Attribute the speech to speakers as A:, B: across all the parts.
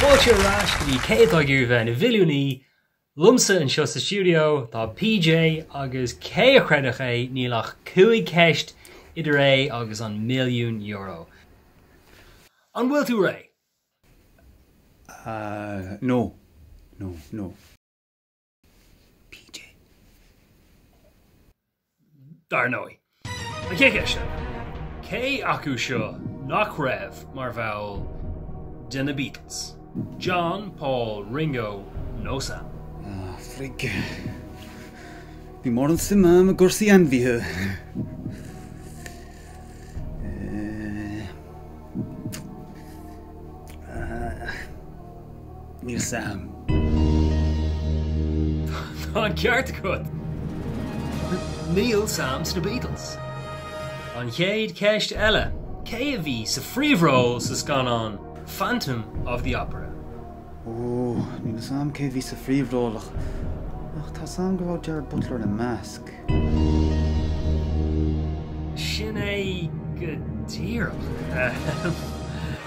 A: Fáilte ar ais go dtí Cé atá ag iarraidh bheith ina mhilliúnaí? Liomsa anseo sa stiúideo tá PJ agus cé a chreidfeadh é, níl ach cúig cheist idir é agus an milliún euro. An bhfuil tú réidh?
B: Ah, no, no, no.
A: PJ. Dar ndóigh, an chéad cheist eile, cé acu seo nach raibh mar bhall de na Beatles? John, Paul, Ringo nó Sam? Ah,
B: frig. Níl mórán suim agam i gcúrsaí ainmhithe. Eh, ah. Níl
A: sam. Tá an ceart agat. Níl Sam sna Beatles. An chéad cheist eile, cé a bhí sa phríomhról sa scannán Phantom of the Opera? Ooh,
B: níl 'fhios a'm cé a bhí sa phríomhról ach, ach tá 'fhios a'm go raibh Gerard Butler ina measc.
A: Sin é go díreach, ahem.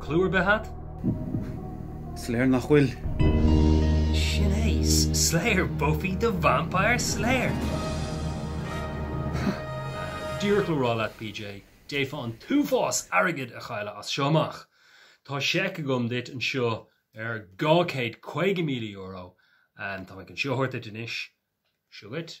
A: Clue ar bith
B: a't? Is léir nach
A: bhfuil. Sin é, Slayer, Buffy the Vampire Slayer! Díreach le rá leat, PJ, d'fhéadfá an t-uafás airgid a chailleadh as seo amach. Tá seic agam duit anseo ar €250,000, and tá mé chun seo a thabhairt duit anois. Seo chugat.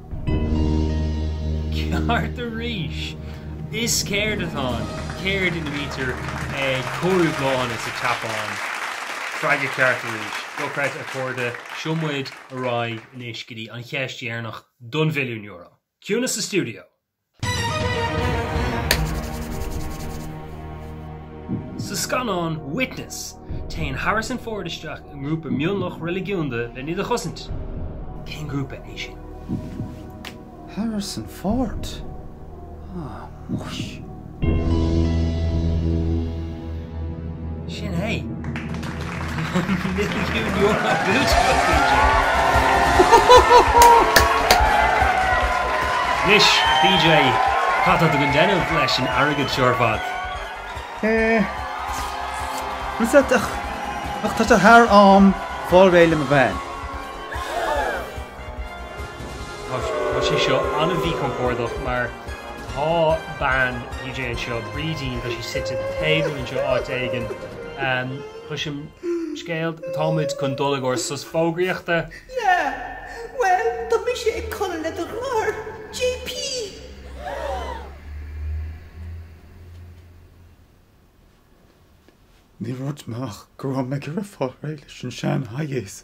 A: Ceart arís! Is ceird atá ann. Ceird ina mbítear ag cóiriú bláthanna sa tSeapáin. Freagra ceart arís. Dochreidte a chairde, seo muid ar aghaidh anois go dtí an cheist dheireanach don mhilliún euro. Ciúnas sa stiúideo! Sa scannán Witness, téann Harrison Ford isteach i ngrúpa mionlach reiligiúnda len iad a chosaint. Cén grúpa é sin? Harrison
B: Ford? Ah, muis.
A: Sin é. An milliún euro buaite ag PJ! Anois, PJ, cad tá tú chun déanamh leis an airgead seo ar fad? Eh.
B: An set ach tá sé thar am fáil réidh le mo bhean.
A: Tá sé seo an-mhíchompordach mar tá bean PJ anseo, Brídín, tá sí suite ag tábla anseo áit éigin. Cloisim scéal, tá muid chun dul i gcomhair sos fógraíochta.
C: Yeah, bhuel tá mise ag codladh le do mháthair,
B: JP. Ní raibh muid amach go raibh mé ag iarraidh fáil réidh leis an sean-Hayes.